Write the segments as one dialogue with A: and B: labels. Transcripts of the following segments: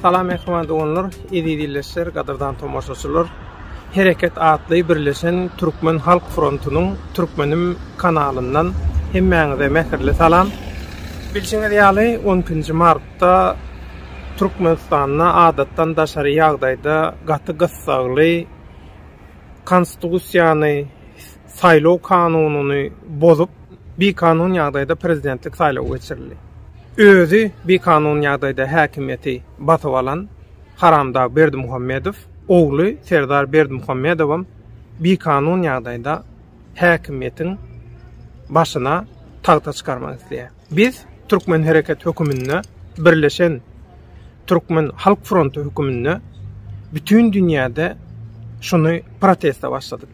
A: Salam ehman doganlar, eziz ildeşler, gadyrdan tomaşaçylar. Hereket atly birleşen Türkmen Halk Frontunyň Türkmenim kanalyndan hemmäňize mähirli salam. Bilşiňiz ýaly 12-nji mart Habarçylykda Türkmenistanda adatdan daşary ýagdaýda gaty gyssagly Konstitusiýany, saýlaw kanunyny bozup, bikanun ýagdaýda prezidentlik saýlawy geçirildi. Özi bikanun ýagdaýda häkimiýeti basyp alan haramdag Berdimuhamedow ogly Serdar Berdimuhamedowam bikanun ýagdaýda häkimiýetiň başyna tagta çykarmak isleýär. Biz Türkmen hereket höküminde birleşen Türkmen halk fronty höküminde bütin dünýäde şuny proteste başladyk.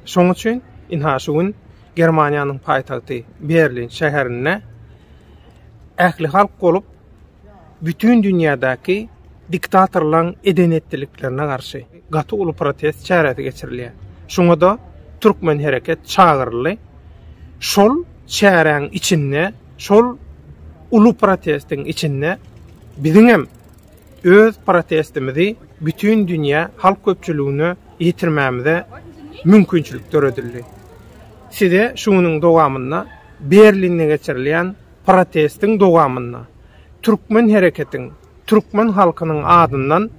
A: Şoň üçin ynha şu gün Germaniýanyň paýtagty Berlin şäherinde ählihalk bolup, bütin dünýädäki diktatorlaryň eden-etdiliklerine garşy gaty uly protest çäresi geçirilýär. Şuňa-da Türkmen hereket çagyryldy. Şol çäräň içinde, şol uly protestiň içinde biziň hem öz protestimizi bütin dünýä halk köpçüligine ýetirmämize mümkinçilik döredildi. Size şu günüň dowamynda Berlinde geçirilýän Protestiň dowamynda türkmen hereketiň türkmen halkynyň adyndan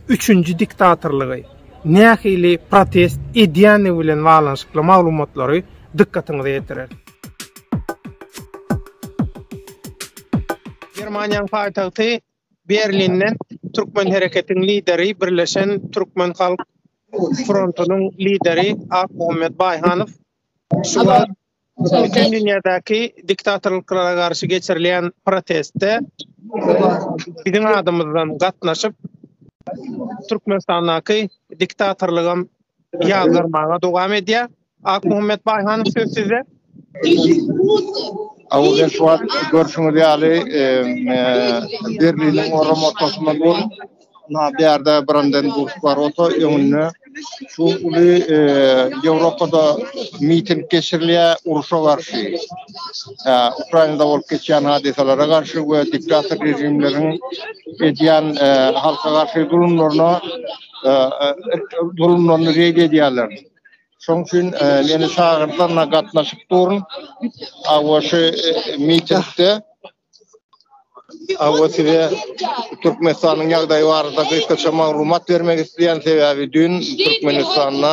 A: üçünji diktatorlygy nähili protest edýändigi bilen baglanyşykly maglumatlary dykgatyňyza ýetireris. Germaniýanyň paýtagty Berlinden türkmen hereketiň lideri, Birleşen türkmen halk frontunyň lideri Akmuhammet Baýhanow şu wagt Bütin dünýädäki diktatorlyklara garşy geçirilýän protestde biziň adymyzdan gatnaşyp, Türkmenistandaky diktatorlygam ýazdyrmaga dowam edýär. Akmuhammet Baýhanow, söz sizde.
B: Awuzen şu wagt görşüňiz ýaly, Berliniň oram ortasynda bolup, Na bärde Branden Burg bar ota öňünde. Şu uly e, Ýewropada miting geçirilýär uruşa garşy. E, Ukrainada bolup geçýän hadysalara garşy we diktator rejimleriň edýän e, halka garşy zulumlaryna e, e, zulumlaryny red edýärler. Şoň üçin e, meni çagyrdylar, na gatnaşyp durun. Awaşy e, mitingde Awa size Türkmenistanyň ýagdaýy barada gysgaça maglumat bermek isleýän sebäbi dün Türkmenistanda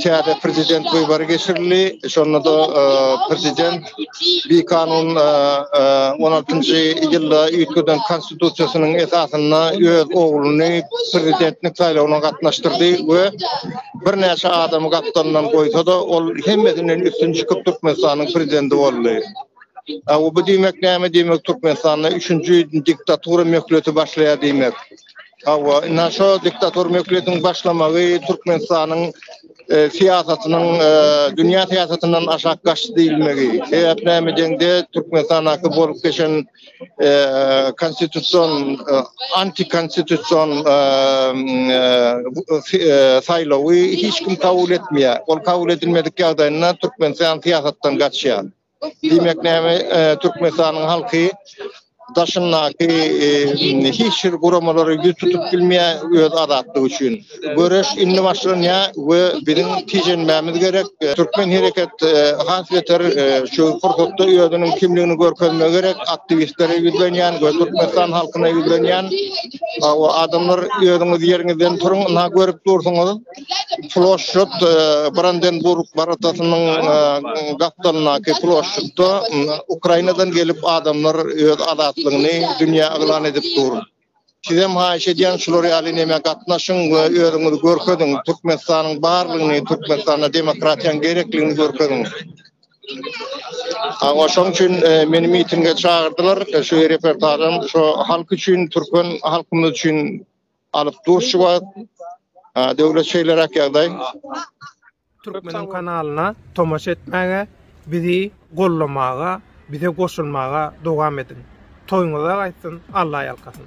B: täze prezident wybary geçirildi. Şonda-da e, prezident bir kanun e, e, on altynjy ýylda üýtgeden konstitusiýasynyň esasynda öz ogluny prezidentlik saýlawyna gatnaşdyrdy we birnäçe adamy gapdalyndan goýsa-da ol hemmesinden üstün çykyp Türkmenistanyň prezidenti boldy. Aw bu diýmek näme diýmek Türkmenistanda üçünji diktatura möhleti başlaýar diýmek. Aw ina şo diktatura möhletiň başlamagy Türkmenistanyň e, syýasatynyň e, dünýä syýasatyndan aşak gaçdy diýilmegi. Sebäp näme deňde Türkmenistandaky bolup geçen e, konstitusion e, antikonstitusion e, e, saýlawy hiç kim kabul etmeýär. Ol kabul edilmedik ýagdaýynda Türkmenistan syýasatdan gaçýar. Diýmek näme Türkmenistanyň halky daşyndaky hiç bir guramalary ýüz tutup bilmeýär öz azatlygy üçin. Göreş indi başlanýar we biziň tijenmämiz gerek. Türkmen hereket has beter şu pursatda özüniň kimligini görkezmegi gerek. Aktiwistlere ýüzlenýän we Türkmenistan halkyna ýüzlenýän. Hawa adamlar özüňiz ýeriňizden turuň, ynha görüp dursuňyz. Ploşçut e, Brandenburg baratasynyň e, gapdalyndaky ploşçutda Ukrainadan gelip adamlar öz azatlygyny dünýä yglan edip dur. Sizem haýyş edýän şular ýaly näme gatnaşyň we özüňizi görkeziň. Türkmenistanyň barlygyny, Türkmenistana demokratiýanyň gerekligini görkeziň. Awa şoň üçin e, meni mitinge çagyrdylar. E, şu reportajym şu halk üçin, türkmen halkymyz üçin Alyp dur şu wagt. Ha, döwlet şeýleräk ýagdaý.
A: Türkmeniň kanalyna tomaşa etmäge, bizi gollamaga, bize goşulmaga dowam ediň. Toýuňyza gaýtsyn, Alla ýalkasyn.